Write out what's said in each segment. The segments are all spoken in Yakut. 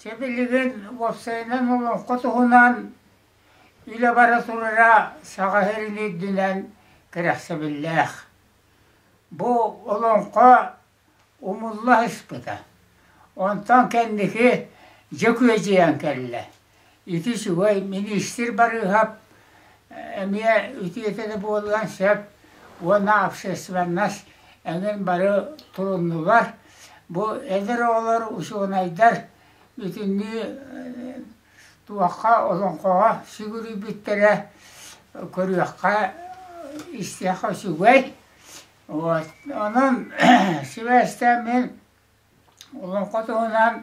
Чэ билигин уопсайынан олоҥхо туһунан илэ бара турара саха иһин үрдүнэн кэрэхсэбиллээх. Бу олоҥхо умулла сыспыта, онтон кэнники Дьөкүөдьүйэн кэллэ. Ити сүбэй миниистир барыыһап эмиэ үтүөтэ да буолуон сөп уонна общественнас эҥин бары туруннулар. Бу эдэр оҕолор учуонайдар бүтүннүү туохха олоҥхоҕо сүгүрүйбүттэрэ көрүөххэ истиэхэ үчүгэй. Вот онон сибээстээн мин олоҥхо туһунан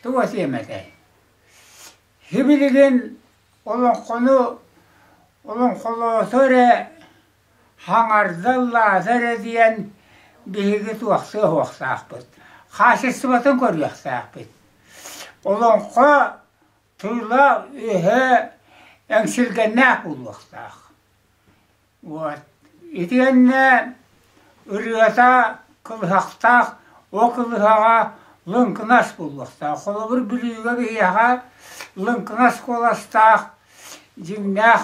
тугу этиэм этэй? Сибилигин олоҥхону олоҥхолоото эрэ, хаҥарда, ыллаата эрэ диэн биһиги туохтуох-уохтаахпыт, хаачыстыбатын көрүөхтээхпит. Олоҥхо тыла-өһө эҥсилгэннээх буолуохтаах. Вот. Итиэннэ ырыата кылыһахтаах, ол кылыһаҕа лыҥкынас буолуохтаах. Холобур, Бүлүүгэ биһиэхэ лыҥкынас куоластаах, дьиҥнээх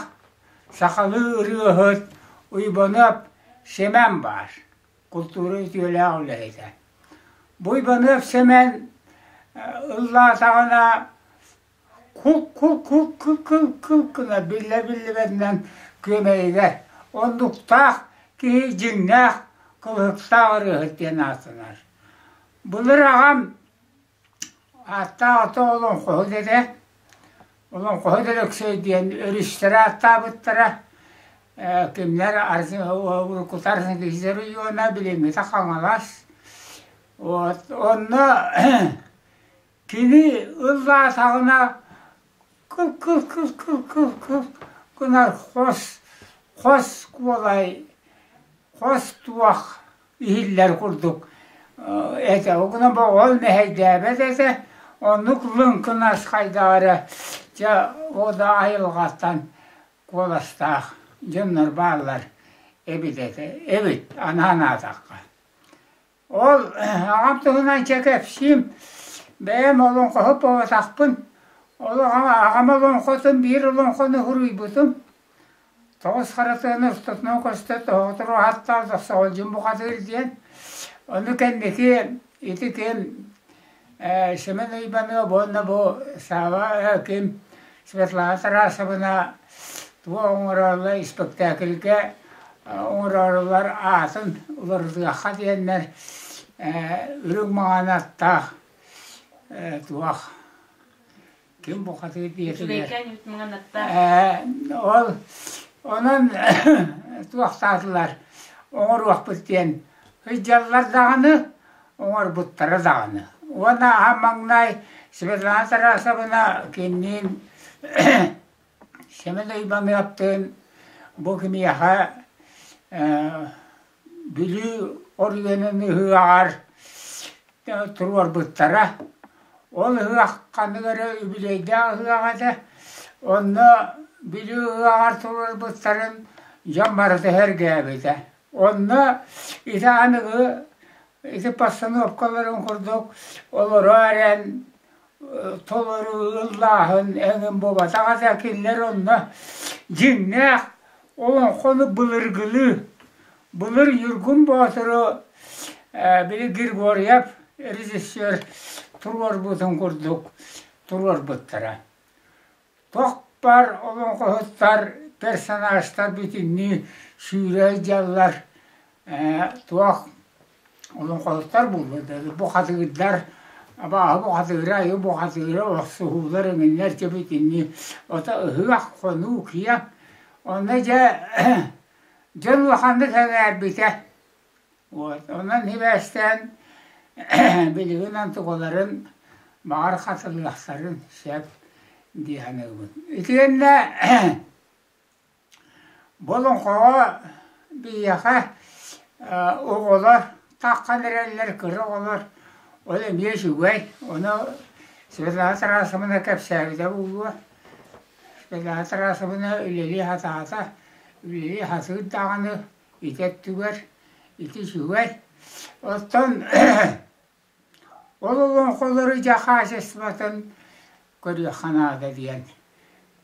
сахалыы ырыаһыт Уйбаныап Сэмэн баар, култуура үтүөлээх үлэһитэ. Бу Уйбаныап Сэмэн ыллаатаҕына кул-кул-кул-кул-кул-кула биллэ-биллибэтинэн күөмэйигэр оннуктаах киһи дьиҥнээх кылыһыктаах ырыаһыт диэн ааттанар. Былыр аҕам ааттаах ото Олоҥхоһут этэ, Олоҥхоһут Өлөксөй диэн өрүстэрэ ааттаабыттара. Э, кинилэр уруккутар киһилэр уйуона, билиҥҥитэ Хаҥалас. Вот, онно Кини ыллаатаҕына кыл-кыл-кыл-кыл-кыл-кыл гынар хос, хос куолай, хос туох иһиллэр курдук этэ. Ол гынан оҕол мэһэйдээбэт этэ, оннук лыҥкынас хайдаҕа эрэ дьэ ол да айылҕаттан куоластаах дьоннор бааллар эбит этэ, эбит, аны санаатахха. Ол аҕам туһунан чэ кэпсиим, бэйэм олоҥхоһут буолбатахпын, аҕам олоҥхотун биир олоҥхону уруйбутум, тоҕус харатыаны устутунан көстө тоһоҕотору ааттаата, соҕолдьум бухатыыр диэн, ону кэнники ити ким Ээ Семен Иванов уонна бу Сава Аким Светлана Тарасовна туох оҥороллор испэктээкилгэ оҥороллор аатын уларытыахха диэннэр үрүҥ маҥан аттаах туох ким букатыыр дьиэтигэр ол онон туохтаатылар оҥоруохпут диэн сыдьаллар даҕаны оҥорбуттара даҕаны уонна аһа маҥнай Светлана Тарасовна кинниин Семен Ивановтыын бу киниэхэ Бүлүү оройуонун ыһыаҕар туруорбуттара. Ол ыһыахханы эрэ үбүлүөйдээх ыһыаҕа этэ. Онно Бүлүү ыһыаҕар туруорбуттарын дьон барыта сэргээбитэ. Онно ити аныгы ити постановкаларын курдук олорор эрэн толору ыллааһын эҥин буолбатаҕа да кинилэр онно дьиҥнээх олоҥхону былыргылыы былыр Ньургун Боотуру били Григорьев режиссер туруорбутун курдук туруорбуттара Тохпар олоҥхоһуттар, персонажтар бүтүннүү сүүрэр-дьаллар туох олоҥхоһуттар буолуо да бу хатыырдар абааһы бу хатыыра айы бу хатыыра олохсуһуулар эҥиннэр дьэ бүтүннүү ото ыһыах хонуу киэ онно дьэ дьон улаханнык эҥээрбитэ Уот онон сибээстээн билигин онтугаларын баҕар хатылыахтарын сөп дии саныыбын. Итиэннэ болоҥхоҕо биһиэхэ оҕолор таххан эрэллэр кыра оҕолор ол эмиэ үчүгэй ону Светлана Тарасовна кэпсээбитэ буолуо. Светлана Тарасовна үлэлии сатаата, үлэлии сатыыр даҕаны ити өттүгэр ити сүбэ. Оттон ол олоҥхолору дьэ хаачыстыбатын көрүөххэ наада диэн.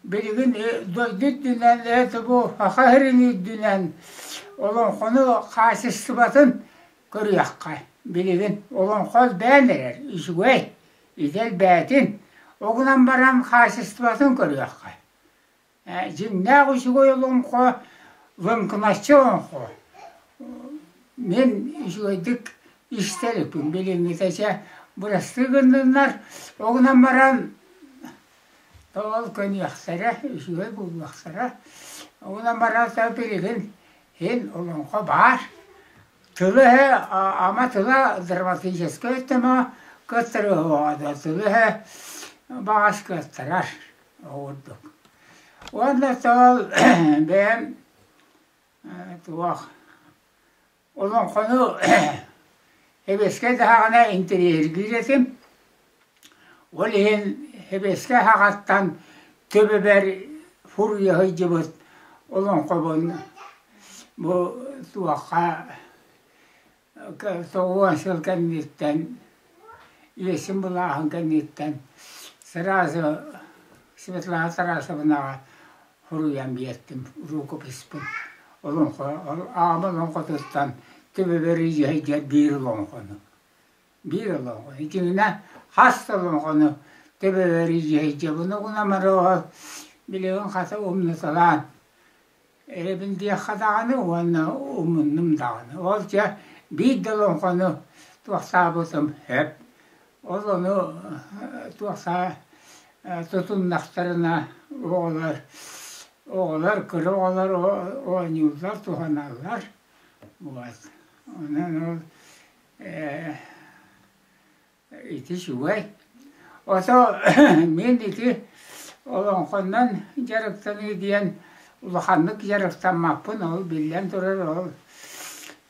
Билигин дойду үрдүнэн, это бу саха сирин үрдүнэн олоҥхону хаачыстыбатын көрүөххэ. Билигин олоҥхо элбээн эрэр, үчүгэй, ити элбээтин. Ол гынан баран хаачыстыбатын көрүөххэ. Дьиҥнээх үчүгэй олоҥхо лыҥкыначчы олоҥхо. Мин үчүгэйдик истэриппин билиҥҥитэ чэ бырастыы гынныннар, ол гынан баран тоол гыныахтара, үчүгэй буолуохтара. Ол гынан баран та билигин иһин олоҥхо баар. Тылы эһэ ама тыла драматическай өттө moo кыттарыһыаҕа да тылы эһэ баҕас кыаттарар. оҕурдук. Уонна тоол бэйэм туох олоҥхону хэбэскэ даҕаны интэриэһиргиир этим. Ол иһин хэбэскэ аһаҕаттан төбөбөр фурия сылдьыбыт олоҥхобун бу туохха Соҕуруосил кэнниттэн, иэсин былааһын кэнниттэн сразу Светлана Тарасовнаҕа суруйан биэртим, рукописпын. Олоҥхо, аҕам олоҥхотуттан Түбүбэрийиһэй диэн биир олоҥхону, биир олоҥхо. Итиннэ хас да олоҥхону Түбүбэрийиһэй диэн, онугунамары ол билигин хата умнуталаан Эрэбин диэххэ даҕаны уонна умуннум даҕаны. Ол дьэ биир да олоҥхону туохсаабытым сөп. Ол ону туохсаа тутуннахтарына оҕолор оҕолор кыра оҕолор оонньууллар, туһаналлар. Вот. Онон ол Ити үчүгэй. Ото мин ити олоҥхоннон дьарыктаныы диэн улаханнык дьарыктаммаппын, ол биллэн турар ол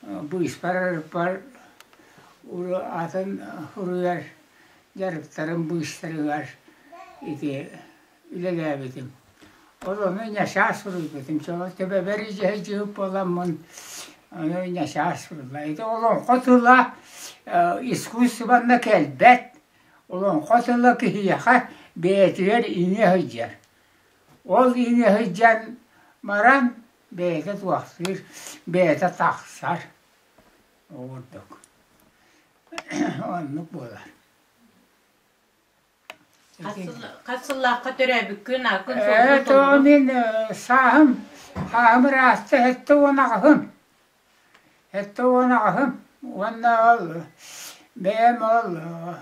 быыспар арыппар атын суруйар дьарыктарым быыстарыгар ити үлэлээбитим. Ол ону ньачаас суруйбутум. Чоҕо төбөбөр дьиһэйдьиһик буоламмын, ону ньачаас суруйла. Ити олоҥхо тыла э, искусствонно кэлбэт. Олоҥхо тыла киһиэхэ бэйэтигэр иҥэ сылдьар. Ол иҥэ сылдьан баран бэйэтэ туохтуур, бэйэтэ тахсар. Ол курдук. Оннук буолар. Хат сыл, хат сыллаахха төрөөбүккүн, ааккын, Ээ, то суолгун мин э, сааһым, сааһым ыраасты эттэ уон аҕыһым. Эттэ уон аҕыһым уонна ол бэйэм ол э,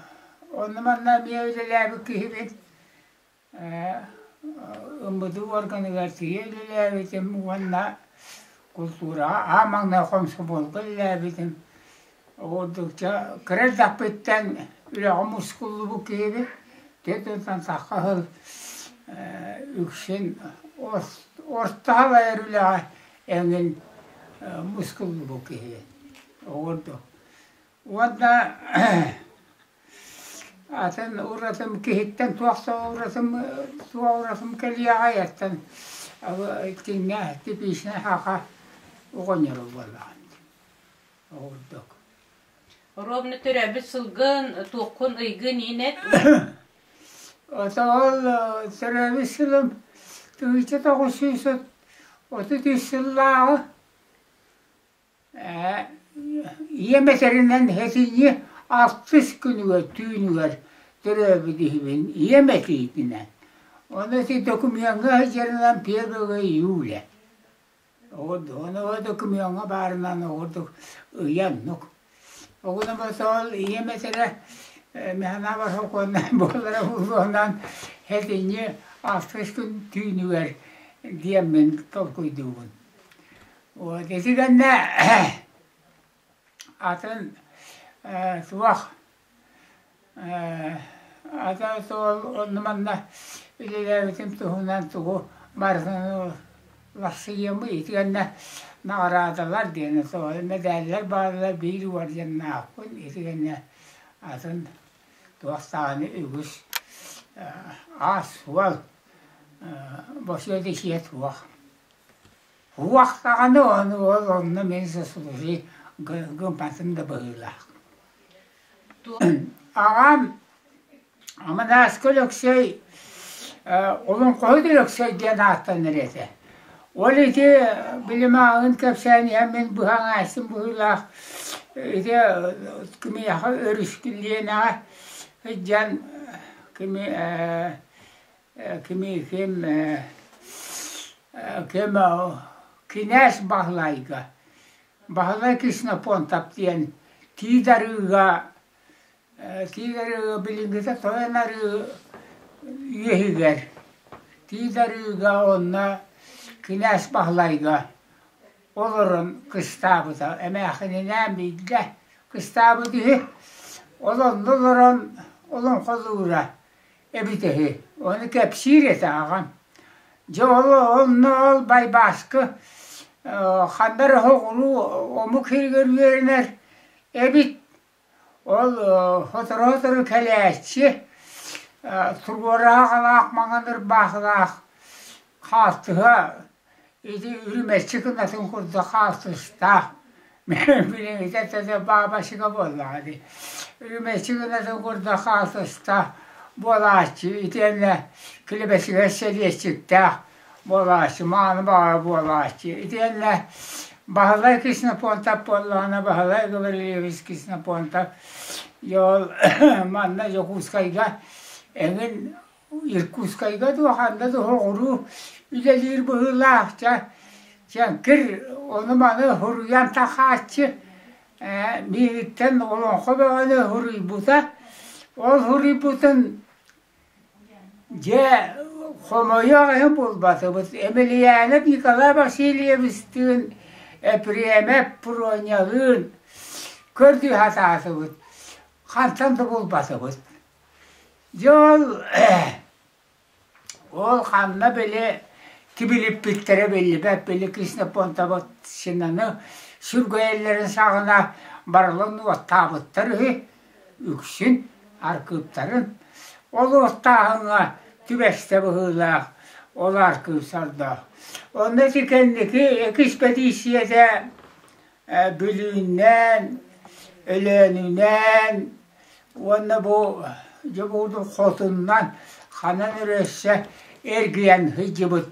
онно манна эмиэ үлэлээбит киһибин. Э, МБДУ органыгар тиийэ үлэлээбитим уонна култуураҕа аан маҥнай хомсубуолга үлэлээбитим. Ордук кыра эрдэхпиттэн үлэҕэ мускуллубут киһибин, дьиэтинэн тахха сыл үксүн ортоһон айар үлэҕэ эҥин мускуллубут киһибин. Ордук уонна атын уратым киһиттэн туох да уратым туох уратым кэлиэ аҕайыттан итиннэ типичнэй аха оҕонньорум буоллаҕа. Ордук. Ровно төрөөбүт сылгын, туоххун ыйгын иһин эт. Отоол төрөөбүт сылым тыыча тоҕус сүүс отут үс сыллааҕы ийэм этэринэн этиñи алтыс күнүгэр түүнүгэр төрөөбүт иһибин ийэм этиитинэн. Ону ити докумуоҥҥа сылдьарынан первого июля. Онуоха да кумиоҥҥа баарынан оҕурдук ыйаннык. Оҕуна босоол ийэм этэрэ механава сокуонунан буолара буолуонан этиньи алтыс күн түүнүгэр диэммин толкуйдуубун. Вот ити гэннэ атын суох ата суол онно манна үлэлээбитим туһунан тугу барытын уларсыйыамы итиэннэ наҕараадалар диэни соҕойу мэдээллэр бааллар биир уордьаннаахпын итиэннэ атын туох даҕаны үгүс аас-суол босуо да сиэ суох Туох даҕаны он уол онно мин засуруй гымпатын да быһыылаах аҕам Аманааска Өлөксөй Олоҥхоһут Өлөксөй диэн ааттанар этэ ол ити билимааҕын кэпсээн иһэн мин быһа аҥааччым быһыылаах ити кимиэхэ өрүскүллиэнэҕэ сылдьан кими кими ким ким кинээс Баһылайга Баһылай Ксенофонтов диэн тиит арыыга тиит арыыга билиҥҥитэ тойон арыы үөһүгэр тиит арыыга уонна кинээс Баһылайга олорон кыстаабыта эмээхининээн биллэ кыстаабыт үһү ол онно олорон олоҥхолуура эбитэһи ону кэпсиир этэ аҕам дьэ ол онно ол байбааска ханна эрэ соҕуруу омук иһигэр үөрэнэр эбит ол сотору-сотору кэлээччи туруораах ылаах маҥан ырбаахылаах хаартыһа Ити үрүмэччи гынатын курдук хаалтыстаах, билиҥҥитэ тэтэ баабачыга буоллаҕа дии. Үрүмэччи гынатын курдук хаалтыстаах буолааччы итиэннэ килэбэсигэр сэлиэччиктээх буолааччы, мааны баҕара буолааччы. Итиэннэ Баһылай Кснопонтов буоллаҕына Баһылай Гаврильевич Кснопонтов, ол манна Дьокуускайга эҥин Иркутскайга да ханна да соҕуруу үлэлиир быһыылаах. Дьэ, кир ону-маны суруйан тахсааччы, ээ, миигиттэн олоҥхо бөҕөнү суруйбута. Ол суруйбутун дьэ хомойуох иһин булбатыбыт. Емельянов Николай Васильевичтыын, Епремов Пронялыын көрдүү сатаатыбыт. Хантан да булбатыбыт. Дьол ол ханна били кибилиппиттэрэ биллибэт били Ксенофонтовщинаны сүргэйэллэрин саҕана барылын уоттаабыттар үһү үксүн аркыыптарын. Ол уоттааһыҥҥа түбэстэ быһыылаах ол аркыып сордоох. Онно ити кэнники экспэдииссийэтэ Бүлүүннээн, Өлөөнүнээн уонна бу Дьокуутук хотуннан ханан эрэ өссө эргийэн сылдьыбыт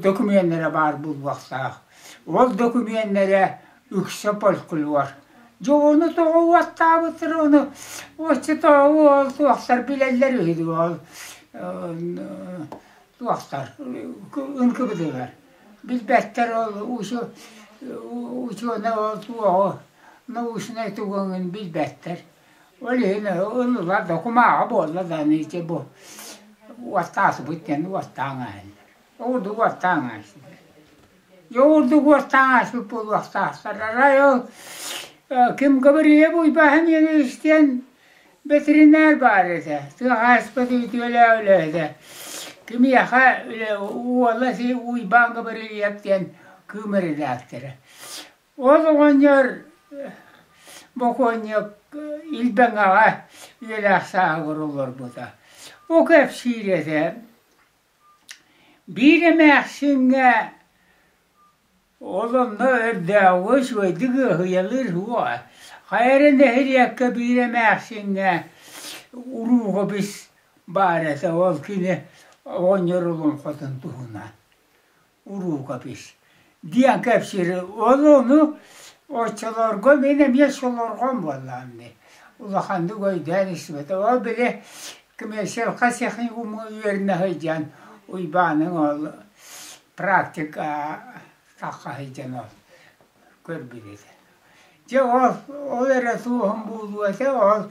докумүөннэрэ баар буолуохтаах. Ол докумүөннэрэ үксэ фольклор. Дьэ ону тоҕо уоттаабыттар ону оччотооҕу ол туохтар билэллэр үһү дуо ол туохтар ынкыбытыгар Билбэттэр ол учу- учуонай ол туоҕу научнай тугуҥун билбэттэр. Ол иһин онула докумааҕа буолла да аны ити бу уоттаасыбыт диэн уоттаан ааһаллар. Ол курдук уоттаан ааһсыннар. Дьэ ол курдук уоттаан ааспыт буолуохтаахтар. Арай ол ким Габриэл Уйбаһаныйа диэн Бэтэринээр баар этэ, тыа хаһаайыстыбата үтүөлээх үлэ этэ. Кимиэхэ үлэ уола Уйбаан Габарыйап диэн кыым редактора. Ол оҕонньор бокуонньук Илбэҥэҕэ үйэлээх сааһыгар олорбута. Бу кэпсиир этэ. Биир эмээхсиҥҥэ Ол онно өрдөөҕү үчүгэйдик ыаһыйалыыр суоҕа. Хайа эрэ нэһилиэккэ биир эмээхсиҥҥэ уруукабыс баар этэ, ол кини оҕонньорулуун хотун туһунан уруукабыс диэн кэпсиир. Ол ону оччолорго мин эмиэ солорҕом буоллаҕым дии. Улаханнык өйдөөн истибэтэ. Ол били коммерциалка техникуму үөрэнэ сылдьан Уйбааныҥ оҕо практика тахха сылдьан ол көрбүт этэ. Дьэ ол ол эрэ суоһун буолуо этэ ол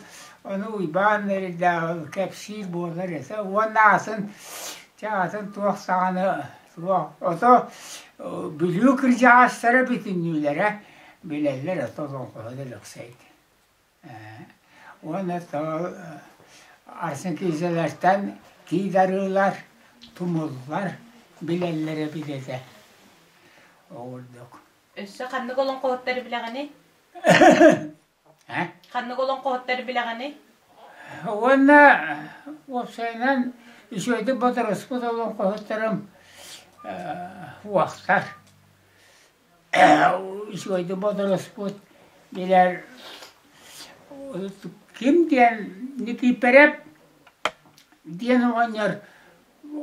ону Уйбаан Эрдээл кэпсиир буолар этэ уонна атын чэ атын туох саҕана суох ото Бүлүү кырдьаҕастара бүтүннүүлэрэ билэллэр ото олоҥхоһута Лөксөй уонна арсенкиизэлэртэн киидарыылар тумуллар билэллэрэ билэтэ оҕурдук өссө ханнык олоҥхоһуттары билэҕиний ханнык олоҥхоһуттары билэҕиний уонна уопсайынан үчүгэйдик бодоруспут олоҥхоһуттарым уохтар Сегодня бодолоспут билэр ким диэн Никииппэрэп диэн оҕонньор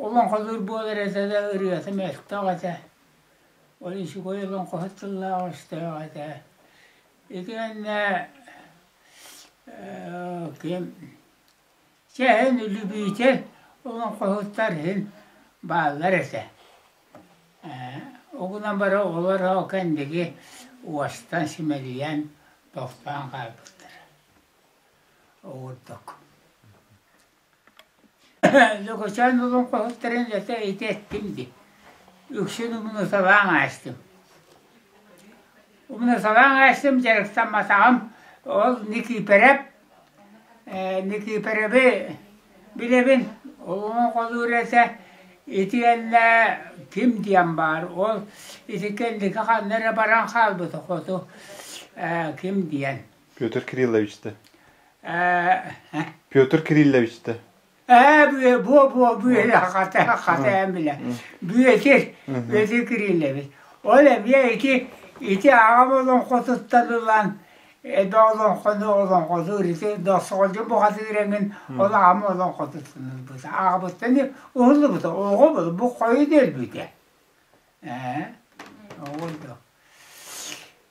олоҥхолуур буолар этэ да ырыата мөлтөх этэ. Ойуусугай олоҥхоһут тыллаах өстөөх этэ. Итиэннэ ким Чэ, эн үлүбүүтэ олоҥхоһуттар иһин бааллар этэ. Ээ, ол гынан баран оҕолор ол кэнниги уостан симэлийэн, тохтоон хаалбыттара. Ол курдук. Лөкөчөөн олоҥхоһуттарын үлэтэ ити эттим дии. Үксүн умнуталаан аастым. Умнусалаан эстим, дьарыктамматаҕым. Ол Никииpäрэп, Никииpäрэби билэбин, олоҕун-холуур этэ, итиэннэ ким диэн баар, ол ити кэнники ханна эрэ баран хаалбыта хоту, ким диэн. Петр Кириллович дэ. Петр Кириллович дэ. Ээ, бүө, буо-буо, бүөлэ, хата, хата эмилэ, бүөтир, бүөтир кириллэбит. Ол эмиэ ити, ити аҕам олоҥхотуттан ылан, эбэ олоҥхону олоҥхоту ырытыр, досоҕолдьу бухатыыр эҥин ол аҕам олоҥхотуттан ылбыта. Аҕабыттан уһуллубута, оҕо була, бу хойу дэлбитэ. Ээ, оҕо да.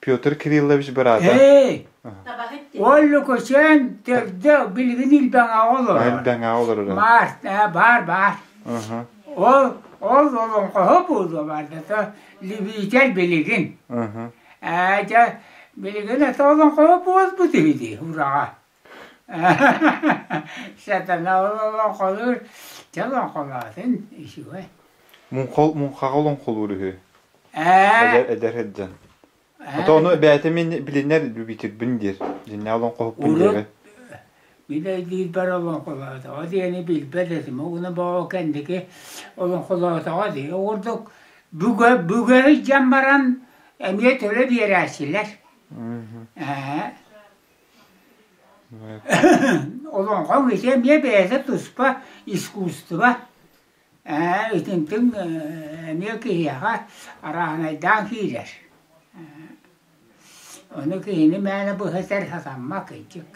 Петр Кириллович быраата. Эй! Ол Лукусен төрдө билигин илбэҥэҕэ олорор. Элбэҥэҕэ олорор. Баар, ээ, баар, баар. Ол ол олоҥхоһо буолуо бардата Левитер билигин. Ээ, дьэ, билигин это олоҥхоһо буолбут үһү дии, ураҕа. Сатана олоҥхолуур чэ олоҥхолоотун үчүгэй Муҥха муҥхаҕа олоҥхолуур үһү. Эдэр эдэр сылдьан. А то ону бэйэтэ мин билинэр любительбин диир. Дьиннэ олоҥхоһуппун диэбэ. Билэ диирбэр олоҥхолоотоҕо диэни билбэт этим. Угуна боо кэнники олоҥхолоотоҕо дии. Ол курдук бүгө бүгөрү дьан баран эмиэ төлө биэрээччилэр. Ээ. Олоҥхо үһүсэ эмиэ бэйэтэ туспа искусство ээ итинтин эмиэ киһиэхэ арааһынайдаан киирэр ону киһини мээнэ быһа сэр сатаммат кырдьык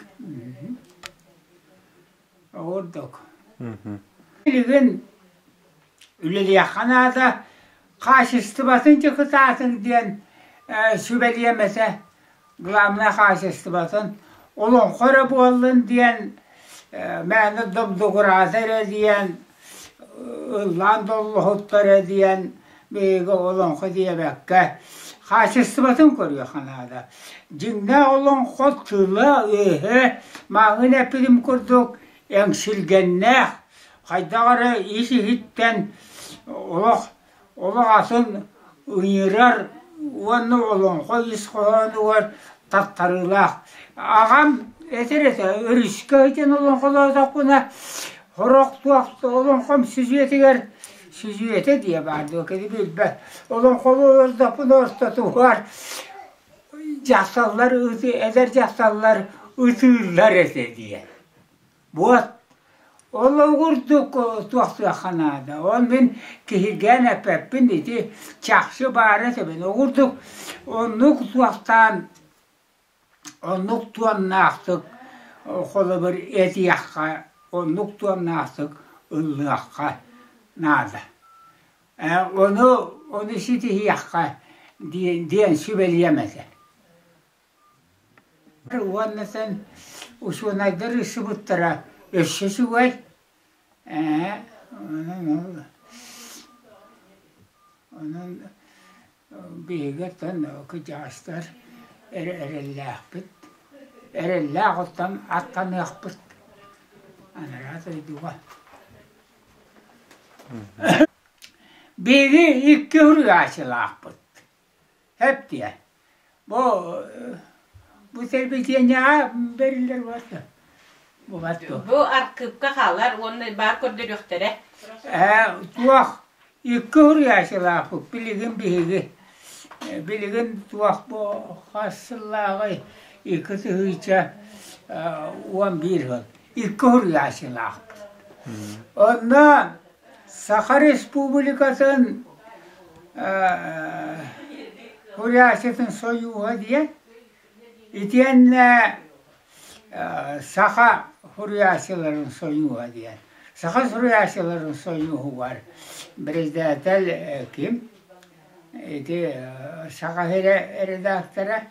ордук билигин үлэлиэххэ наада хаачыстыбатын дьокутаатын диэн сүбэлиэм этэ главнай хаачыстыбатын олоҥхо эрэ буоллун диэн мээнэ добдугураата эрэ диэн ыллаан доллоһуттар диэн биһиги олоҥхо диэбэккэ хаачыстыбатын көрүөххэ наада. Дьиҥнээх олоҥхо тыла-өһө маҥҥын эппитим курдук эҥсилгэннээх, хайдах эрэ ис иһиттэн олох олох атын ыҥырар уонна олоҥхо ис хоһоонугар тартарыылаах. Аҕам этэр-этэ өрүскэ итин олоҥхолоотохпуна, Хороох туох олоҥхом сүдүөтүгэр сүдүөтэ диэ баар дуо, кини билбэт. Олоҥхолоотохпуна ортотугар дьахталлар ыты, эдэр дьахталлар ытыыллар этэ диэн. Вот ол курдук туохтуохха наада. Ол мин киһиргээн эппэппин ити чахчы баара этэбин. Ол курдук оннук туохтаан оннук туомнаахтык холобур этиэххэ, оннук туомнаахтык ыллыахха наада. Ону, ону ситиһиэххэ диэн, диэн сүбэлиэм этэ. уонна сэн усуонайдар ыссыбыттара өссө үчүгэй ээ онон биһигиттэн кыдьаастар эрэллээхпит эрэллээх оттон аттаныахпыт анараа дойдуга биһиги икки уруйааччылаахпыт Эптиэ. Бу бу сервитиэнньэҕэ бэриллэр буолта. Бубат дуо? Бу аркыыпка хаалар уонна баар көрдөрүөхтэрэ. Ээ, туох икки уруйаачылаахпыт билигин биһиги билигин туох бу хас сыллааҕы икки тыһыынча уон биир ыал икки уруйаачылаахпыт. Онно Саха Республикатын Куряситын Союһа диэн итиэннэ Саха Суруйааччыларын Союһа диэн. Саха Суруйааччыларын Союһугар председатель ким? Ити Саха редактора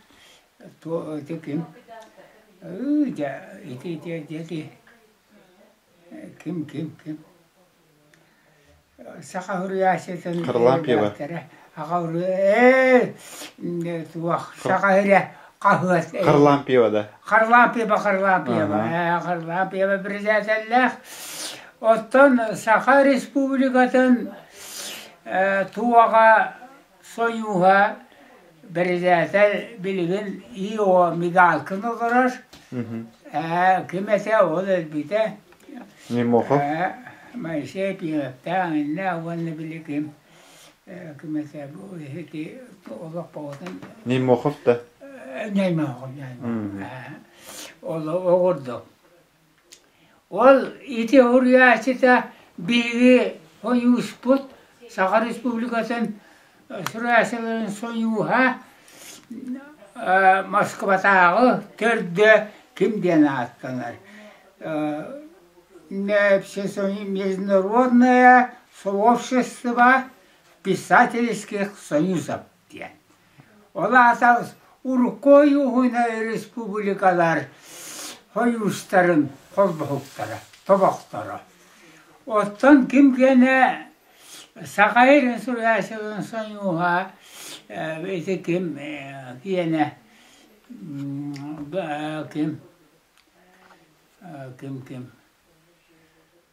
Туо ити ким? Ыы дьэ ити дьэ ити ким ким ким? Саха уруйааччытын үөрбэттэрэ. Аҕа уруй ээ туох саха эрэ хаһыат э. Харлампьева да. Харлампьева Харлампьева. Ээ Харлампьева предателлээх. Оттон Саха Республикатын э, туоҕа Сойууһа бэрэзээтэл билигин ИО Мигалкин олорор, ээ ким этэ ол өлбүтэ, Немохов ээ Моисей Пилэптээх иннэ уонна били ким э, ким этэ бу ити олоппоҕотун Немохов да Неймохов Неймохов. Э, ол оҕурдук. Ол ити уруйааччыта биһиги хойууспут Саха Республикатын суруйааччыларын сойууһа Москватааҕы төрдө ким диэн ааттанар Международное сообщество писательских союзов диэн. Ол аатал урукку ойууһуна республикалар хойуустарын холбоһуктара, тобохторо. Оттон ким генэ саха инсуляциятын соньууһа ити ким киэнэ ким ким ким